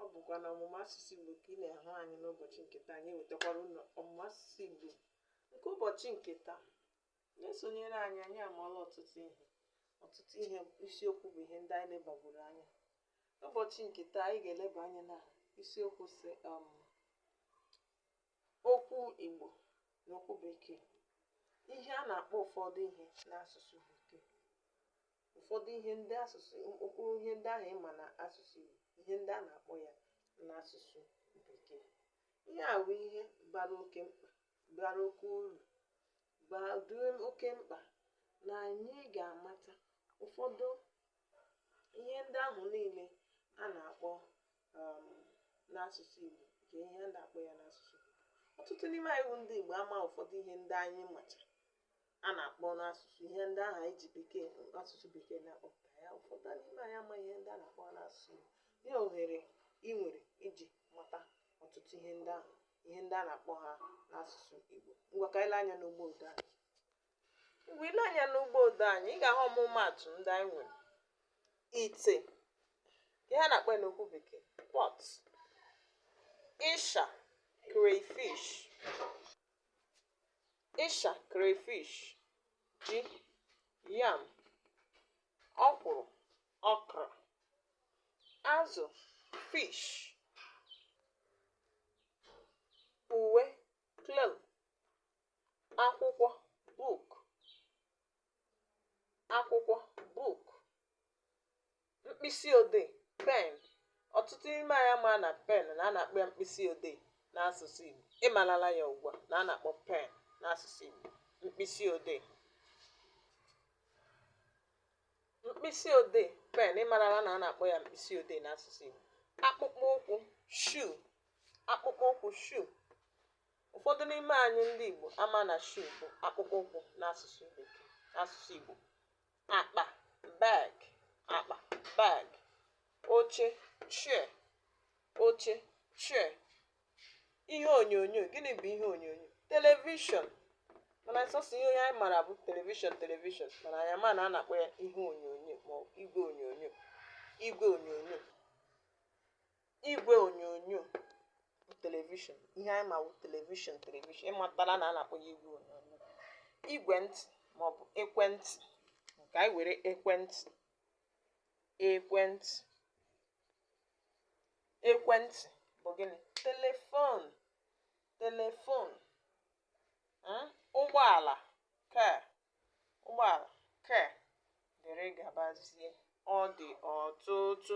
ọ bụkwa na ọmụmụ asụsụ Igbo ka ị na-ahụ anyị n'ụbọchị nke taa anyị ewetakwara unu ọmụmụ asụsụ Igbo nke ụbọchị nke taa na-esonyere anyị anyị amaala ọtụtụ ihe ọtụtụ ihe isiokwu bụ ihe ndị anyị lebagoro anya n'ụbọchị nke taa anyị ga-eleba anya na isiokwu sị um, okwu Igbo na okwu Bekee ihe a na-akpọ ụfọdụ ihe n'asụsụ Bekee ụfọdụ ihe ndị asụsụ mkpụrụ ihe ndị ahụ ị ma na asụsụ Igbo ihe ndị a na-akpọ ya n'asụsụ Bekee ihe a bụ ihe bara oke mkpa bara oke uru bara oke mkpa na anyị ga-amata ụfọdụ ihe ndị ahụ niile a na-akpọ um, n'asụsụ Igbo nke ihe a na-akpọ ya n'asụsụ Igbo ọtụtụ n'ime anyị bụ ndị Igbo ama ụfọdụ ihe ndị anyị macha a na-akpọ n'asụsụ ihe ndị ahụ anyị ji bekee asụsụ bekee na-akpọpụta ya ụfọdụ n'ime anyị ama ihe ndị a na-akpọ n'asụsụ Igbo lee ohere ị nwere iji mata ọtụtụ ihe ndị ahụ ihe ndị a na-akpọ ha n'asụsụ Igbo ngwa ka anyị lee anya n'ugbo odo anyị mgbe i le anya n'ugbo odo anyị ị ga-ahụ ọmụmaatụ ndị anyị nwere ite ihe a na-akpọ ya n'okwu bekee pot ịsha crayfish ịsha crayfish ji yam ọkwụrụ okra azụ fish uwe cloth akwụkwọ book akwụkwọ book mkpịsị odee pen ọtụtụ n'ime anyị ama na pen na a na-akpọ ya mkpịsị odee n'asụsụ Igbo ị malala ya ugbu a na a na-akpọ pen n'asụsụ Igbo mkpịsị odee mkpịsị odee pen ị malala na a na-akpọ ya mkpịsị odee n'asụsụ Igbo akpụkpọ ụkwụ shoe akpụkpọ ụkwụ shoe Ụfọdụ n'ime anyị ndị Igbo ama na shoe bụ akpụkpọ ụkwụ n'asụsụ Bekee n'asụsụ Igbo akpa bag akpa bag oche chair oche chair ihe onyonyo gịnị bụ ihe onyonyo telivishọn mana sọsọ ihe onye anyị mara bụ telivishọn telivishọn mana anyị ama na a na-akpọ ya ihe onyonyo ma ọ bụ igwe onyonyo igwe onyonyo igwe onyonyo bụ telivishọn ihe anyị ma wụ telivishọn telivishọn ị matala na a na-akpọ ya igwe onyonyo igwe ntị maọbụ ekwentị ka anyị were ekwentị ekwentị ekwentị bụ gịnị telefon telefon mm, ụgbọala ke ụgbọala ke dịrị gabazie ọ dị ọtụtụ